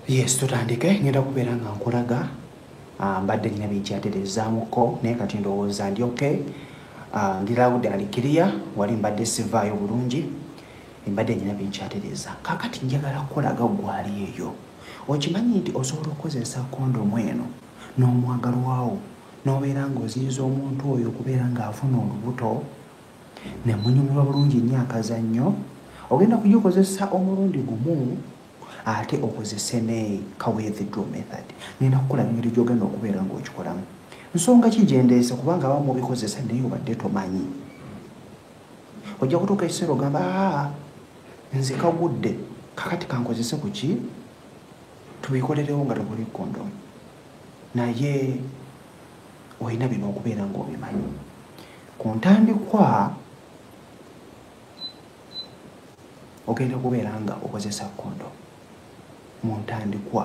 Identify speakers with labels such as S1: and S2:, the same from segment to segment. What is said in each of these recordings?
S1: yes tutandike ngenda kubeera nga nkulaga ah, mbadde nina byenkyatereezaamuko naye kati ndowooza ndi ok ah, ndi lawude alikiriya wali mbadde sivaayo bulungi embadde nina byenkyatereeza kakati njagala kukulaga gwali eyo okimanyi nti osobola okukozesa kondomu eno n'omwagalwawo n'obeera ng'oziyiza omuntu oyo okubeera ng'afuna olubuto ne munyumirwa bulungi nnyo akazannyo ogenda kugikozesa omulundi gumu ate okozese ne kawedhidro method ngenda kukola ngeri gyogenda okubeera ngaokikolamu nsonga ki gyendeese kubanga abamu obikozesa naye obadde tomanyi ojja kutuuka ekiseera ogamba aa nze kagudde kakati kankozese ku ki tubikolerewo nga tebuli kondom naye olina bino okubeera ngaobimanyi ku ntandikwa ogenda okubeera nga okozesa kondo mu ntandikwa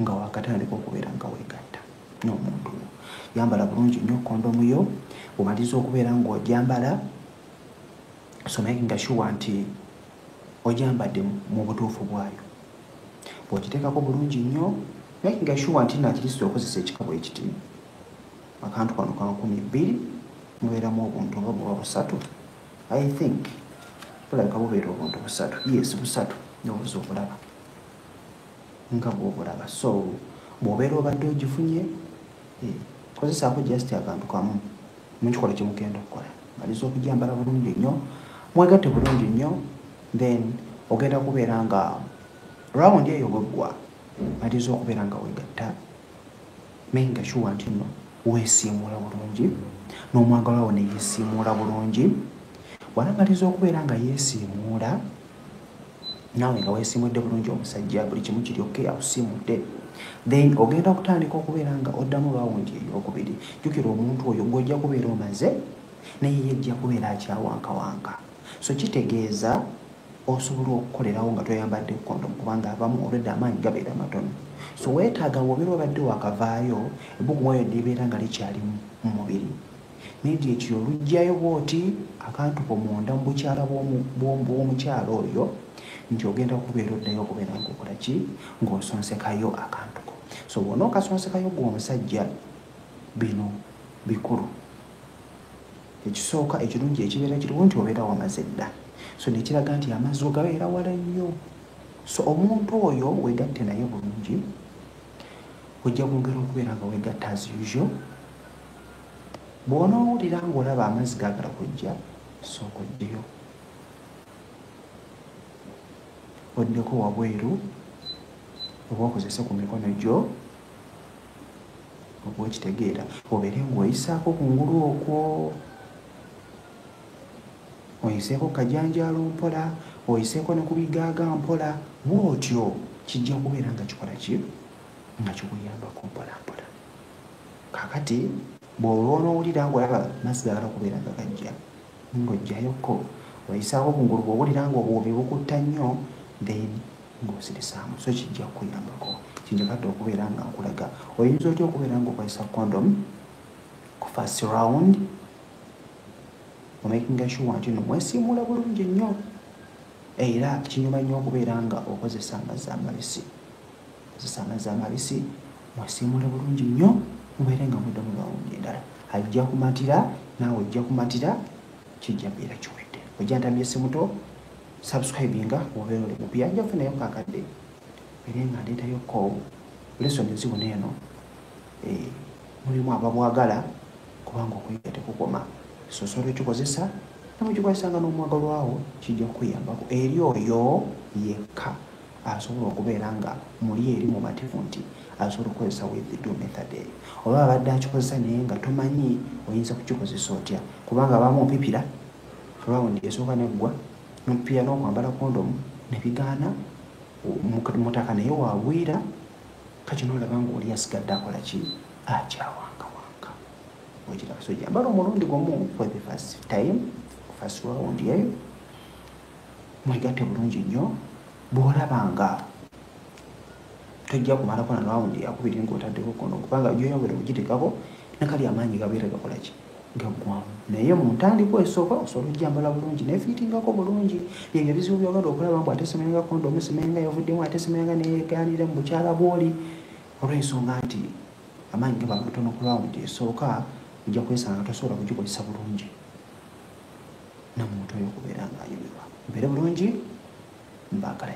S1: nga wakatandika okubeera nga wegatta n'omuntu yambala bulungi nnyo kondomu yo omaliza okubeera ngaojambala so makinga sure nti ojambadde mu butuufu bwayo bwokiteekako bulungi nnyo makinga sure nti nakirisitu okozesa ekikabo ekiti akantu kano ka nkumi bbiri mubeeramu obuntu oba buba busatu i think bulabika bubeera obuntu busatu yes busatu nobuza obulaba nga bwobulaba so bwobeera obadde ogifunye eh, kozesaako just akantu kamu mukikola kyemugenda okukola maliza okujambala bulungi nnyo mwegatte bulungi nnyo then ogenda kubeera nga rawundi eyo bweggwa maliza okubeera nga wegatta naye nga kiwa nti nno wesiimuula bulungi n'omwagala wo neyesiimuula bulungi wanamaliza okubeera nga yesiimuula naawe nga weesimudde bulungi omusajja buli kimu kiri oke akusimudde then ogenda okutandika okubeera nga oddamu rawundi eyokubiri jjukira omuntu oyo gwojja kubeera omaze naye yejja kubeera akyawankawanka so kitegeeza osobola okukolerawo nga toyambadde kondomu kubanga abamu olwedde amaanyi gabeera matono so weetaaga wobeera obadde wakavaayo ebbugumu oyo libeera nga likyali mu mubiri Nedi ekyo olugyayo bwoti akantu ko munda mu bukyala bw'omukyala oyo nti ogenda kubeera oddayo okubeera ngaokola ki ng'osonsekayo akantu ko so bwona okasonsekayo gwe omusajja bino bikulu ekisooka ekirungi ekibeera kiriwo nti obeera wamaze dda so nekiraga nti amazzi ogabeera wala nnyo so omuntu oyo wegatte naye bulungi ojja kwongera okubeera nga wegatta as usual bw'onoowulira ng'olaba amazzi gaagala kujja sooka ojjeyo oddeko wabweru oba okozese ku mikono gyo okuba okitegeera obeere ng'oyisaako ku ngulu okwo oyiseeko ku kajanjaalo mpola oyiseeko ne ku bigaaga mpola bw'otyo kijja kubeera nga kikola ki nga kikuyambako mpolampola kakati bw'oba onowulira ng'olaba mazzi gagala okubeera nga gajja ng'ojjayokko oyisaawo obungulu bw'owulira ng'obuwubi bukutta nnyo then ng'osirisaamu so kijja kukuyambako kinjagadde okubeera nga nkulaga oyinza otya okubeera ng'okozesa condom ku first round omakinga shuwa nti no mwesiimuula bulungi nnyo era kinyuma nnyo okubeera nga okozesa amazzi amabisi kozesa amazzi amabisi mwasiimuule bulungi nnyo mubeere nga mudde mu lawundi endala ajja kumatira naawe ojja kumatira kijja beera kiwedde ojja ntamye simuto subscribinga obeera oli mupya nja kufunayo kakadde beere nga ndeetayo ko lesoni zibuna eno eh, mulimu ababwagala kubanga okuyiga tekukoma sosola ekikozesa namukikozesanga n'omwagalwawo kijja kukuyambako eri oyo yekka asobola okubeera nga muli eri mumativu nti asobola okukozesa withdraw method eyo oba abadde akikozesa naye nga tomanyi oyinza kukikozesa otya kubanga abamu opipira rawundi esooka neggwa nopipira n'okwambala kondomu nebigaana mutaka naye wagwira kakino olaba nga oli asigadde akola ki akyawangawanga okiraba so jambala omulundi gumu for the first time first round eyo mwegatte bulungi nnyo bw'olaba nga tojja kumalako na rawundi yakubiri ng'otaddeko kono kubanga gyoya buli kugitekako nakali amaanyi gabeera gakola ki gaggwamu naye mu ntandikwa esooka osobola ojjambala bulungi nefiitingako bulungi byebyo ebizibu byogenda okulaba mbu atesemayanga kondomu semayanga yavuddemu atesemayanga neyeganira mu bukyala bwoli olw'ensonga nti amaanyi gaba matono ku rawundi esooka ojja kwesanga tosobola kugikozesa bulungi namuntu oyo okubeera nga ayumirwa mbeere bulungi mbaagale